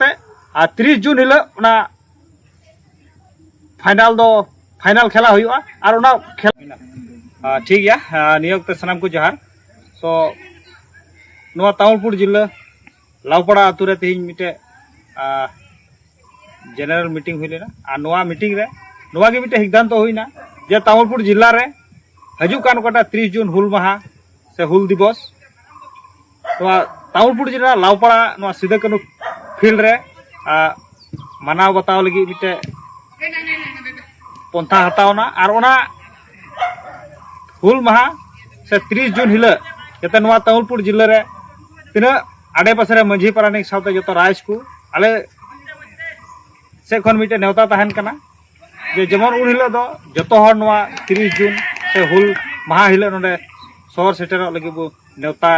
ᱯᱮ ᱟᱨ ᱛᱤᱨᱤᱥ ᱡᱩᱱ ᱦᱤᱞᱳᱜ ᱚᱱᱟ ᱯᱷᱟᱭᱱᱟᱞ ᱫᱚ ᱯᱷᱟᱭᱱᱟᱞ ᱠᱷᱮᱞᱟ ᱦᱩᱭᱩᱜᱼᱟ ᱟᱨ ᱚᱱᱟ ᱠᱷᱮᱞ ᱴᱷᱤᱠ ᱜᱮᱭᱟ ᱱᱤᱭᱟᱹ ᱚᱠᱛᱮ ᱥᱟᱱᱟᱢ ᱠᱚ ᱡᱚᱦᱟᱨ ᱥᱚ ᱱᱚᱣᱟ ᱛᱟᱢᱩᱞᱯᱩᱨ ᱡᱤᱞᱟᱹ ᱞᱟᱣᱯᱟᱲᱟ ᱟᱛᱳ ᱨᱮ ᱛᱮᱦᱮᱧ ᱢᱤᱫᱴᱮᱡ ᱡᱮᱱᱟᱨᱮᱞ ᱢᱤᱴᱤᱝ ᱦᱩᱭ ᱞᱮᱱᱟ ᱟᱨ ᱱᱚᱣᱟ ᱢᱤᱴᱤᱝ ᱨᱮ ᱱᱚᱣᱟ ᱜᱮ ᱢᱤᱫᱴᱮᱡ ᱥᱤᱫᱽᱫᱷᱟᱱᱛᱚ ᱦᱩᱭᱱᱟ ᱡᱮ ᱛᱟᱢᱩᱞᱯᱩᱨ ᱡᱤᱞᱟ ᱨᱮ ᱦᱤᱡᱩᱜ ᱠᱟᱱ ᱚᱠᱟᱴᱟᱜ ᱛᱤᱨᱤᱥ ᱡᱩᱱ ᱦᱩᱞ ᱢᱟᱦᱟ ᱥᱮ ᱦᱩᱞ ᱫᱤᱵᱚᱥ ᱱᱚᱣᱟ ᱛᱟᱢᱩᱞᱯᱩᱨ ᱡᱮᱞᱟ ᱞᱟᱣᱯᱟᱲᱟ ᱱᱚᱣᱟ ᱥᱤᱫᱟᱹ ᱠᱟᱹᱱᱩ ᱯᱷᱤᱞᱰ ᱨᱮ ᱢᱟᱱᱟᱣ ᱵᱟᱛᱟᱣ ᱞᱟᱹᱜᱤᱫ ᱢᱤᱫᱴᱮᱡ ᱯᱚᱱᱛᱷᱟ ᱦᱟᱛᱟᱣᱱᱟ ᱟᱨ ᱚᱱᱟ ᱦᱩᱞ ᱢᱟᱦᱟ ᱥᱮ ᱛᱤᱨᱤᱥ ᱡᱩᱱ ᱦᱤᱞᱳᱜ ᱡᱟᱛᱮ ᱱᱚᱣᱟ ᱛᱟᱢᱩᱞᱯᱩᱨ ᱡᱮᱞᱟ ᱨᱮ ᱛᱤᱱᱟᱹᱜ ᱟᱰᱮᱯᱟᱥᱮ ᱨᱮ ᱢᱟᱹᱡᱷᱤ ᱯᱟᱨᱟᱱᱤᱠ ᱥᱟᱶᱛᱮ ᱡᱚᱛᱚ ᱨᱟᱭᱤᱡᱽ ᱠᱚ ᱟᱞᱮ ᱥᱮᱫ ᱠᱷᱚᱱ ᱢᱤᱫᱴᱮᱡ ᱱᱮᱣᱛᱟ ᱛᱟᱦᱮᱱ ᱠᱟᱱᱟ ᱡᱮ ᱡᱮᱢᱚᱱ ᱩᱱ ᱦᱤᱞᱳᱜ ᱫᱚ ᱡᱚᱛᱚ ᱦᱚᱲ ᱱᱚᱣᱟ ᱛᱤᱨᱤᱥ ᱡᱩᱱ ᱥᱮ ᱦᱩᱞ ᱢᱟᱦᱟ ᱦᱤᱞᱳᱜ ᱱᱚᱰᱮ ᱥᱚᱦᱚᱨ ᱥᱮᱴᱮᱨᱚᱜ ᱞᱟᱹᱜᱤᱫ ᱵᱚ ᱱᱮᱣᱛᱟ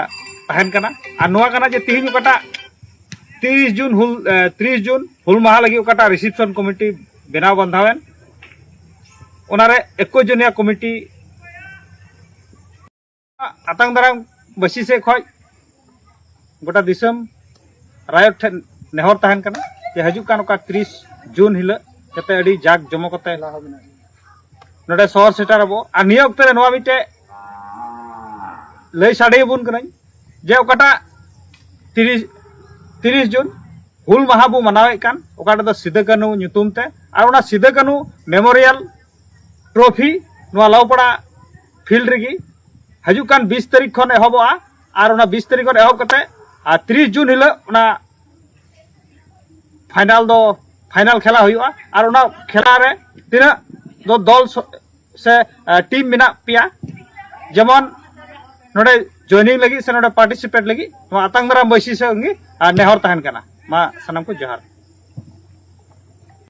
ᱛᱟᱦᱮᱱ ᱠᱟᱱᱟ ᱟᱨ ᱱᱚᱣᱟ ᱠᱟᱱᱟ ᱡᱮ ᱛᱤᱦᱤᱧ ᱚᱠᱟᱴᱟᱜ ᱛᱤᱨᱤᱥ ᱡᱩᱱ ᱦᱩᱞ ᱛᱤᱨᱤᱥ ᱡᱩᱱ ᱦᱩᱞ ᱢᱟᱦᱟ ᱞᱟᱹᱜᱤᱫ ᱚᱠᱟᱴᱟᱜ ᱨᱤᱥᱮᱯᱥᱚᱱ ᱠᱚᱢᱤᱴᱤ ᱵᱮᱱᱟᱣ ᱵᱟᱸᱫᱷᱟᱣᱮᱱ ᱚᱱᱟᱨᱮ ᱮᱠᱩᱥ ᱡᱚᱱᱤᱭᱟ ᱠᱚᱢᱤᱴᱤ ᱟᱛᱟᱝ ᱫᱟᱨᱟᱢ ᱵᱟᱹᱥᱤ ᱥᱮᱫ ᱠᱷᱚᱱ ᱜᱚᱴᱟ ᱫᱤᱥᱚᱢ ᱨᱟᱭᱚᱴ ᱴᱷᱮᱱ ᱱᱮᱦᱚᱨ ᱛᱟᱦᱮᱱ ᱠᱟᱱᱟ ᱡᱮ ᱦᱤᱡᱩᱜ ᱠᱟᱱ ᱚᱠᱟ ᱛᱤᱨᱤᱥ ᱡᱩᱱ ᱦᱤᱞᱳᱜ ᱡᱟᱛᱮ ᱟᱹᱰᱤ ᱡᱟᱠ ᱡᱚᱢᱚᱠ ᱠᱟᱛᱮ ᱱᱚᱰᱮ ᱥᱚᱦᱚᱨ ᱥᱮᱴᱮᱨ ᱟᱵᱚ ᱟᱨ ᱱᱤᱭᱟᱹ ᱚᱠᱛᱮ ᱨᱮ ᱱᱚᱣᱟ ᱢᱤᱫᱴᱮᱡ ᱞᱟᱹᱭ ᱥᱟᱰᱮ ᱟᱵᱚᱱ ᱠᱟᱹᱱᱟᱹᱧ ᱡᱮ ᱚᱠᱟᱴᱟᱜ ᱛᱤᱨᱤᱥ ᱛᱤᱨᱤᱥ ᱡᱩᱱ ᱦᱩᱞ ᱢᱟᱦᱟ ᱵᱚ ᱢᱟᱱᱟᱣᱮᱫ ᱠᱟᱱ ᱚᱠᱟᱴᱟᱜ ᱫᱚ ᱥᱤᱫᱟᱹ ᱠᱟᱹᱱᱩ ᱧᱩᱛᱩᱢ ᱛᱮ ᱟᱨ ᱚᱱᱟ ᱥᱤᱫᱟᱹ ᱠᱟᱹᱱᱩ ᱢᱮᱢᱳᱨᱤᱭᱟᱞ ᱴᱨᱚᱯᱷᱤ ᱱᱚᱣᱟ ᱞᱟᱣᱯᱟᱲᱟ ᱯᱷᱤᱞᱰ ᱨᱮᱜᱮ ᱦᱤᱡᱩᱜ ᱠᱟᱱ ᱵᱤᱥ ᱛᱟᱹᱨᱤᱠᱷ ᱠᱷᱚᱱ ᱮᱦᱚᱵᱚᱜᱼᱟ ᱟᱨ ᱚᱱᱟ ᱵᱤᱥ ᱛᱟᱹᱨᱤᱠᱷ ᱠᱷᱚᱱ ᱮᱦᱚᱵ ᱠᱟᱛᱮ ᱟᱨ ᱛᱤᱨᱤᱥ ᱡᱩᱱ ᱦᱤᱞᱳᱜ ᱚᱱᱟ ᱯᱷᱟᱭᱱᱟᱞ ᱫᱚ ᱯᱷᱟᱭᱱᱟᱞ ᱠᱷᱮᱞᱟ ᱦᱩᱭᱩᱜᱼᱟ ᱟᱨ ᱚᱱᱟ ᱠᱷᱮᱞᱟ ᱨᱮ ᱛᱤᱱᱟᱹᱜ ᱫᱚ ᱫᱚᱞ ᱥᱮ ᱴᱤᱢ ᱢᱮᱱᱟᱜ ᱯᱮᱭᱟ ᱡᱮᱢᱚᱱ ᱱᱚᱰᱮ ᱡᱚᱭᱱᱤᱝ ᱞᱟᱹᱜᱤᱫ ᱥᱮ ᱱᱚᱰᱮ ᱯᱟᱨᱴᱤᱥᱤᱯᱮᱴ ᱞᱟᱹᱜᱤᱫ ᱱᱚᱣᱟ ᱟᱛᱟᱝ ᱫᱟᱨᱟᱢ ᱵᱟᱹᱭᱥᱤ ᱥᱮ ᱱᱮᱦᱚᱨ ᱛᱟᱦᱮᱱ ᱠᱟᱱᱟ ᱢᱟ ᱥᱟᱱᱟᱢ ᱠᱚ ᱡᱚᱦᱟᱨ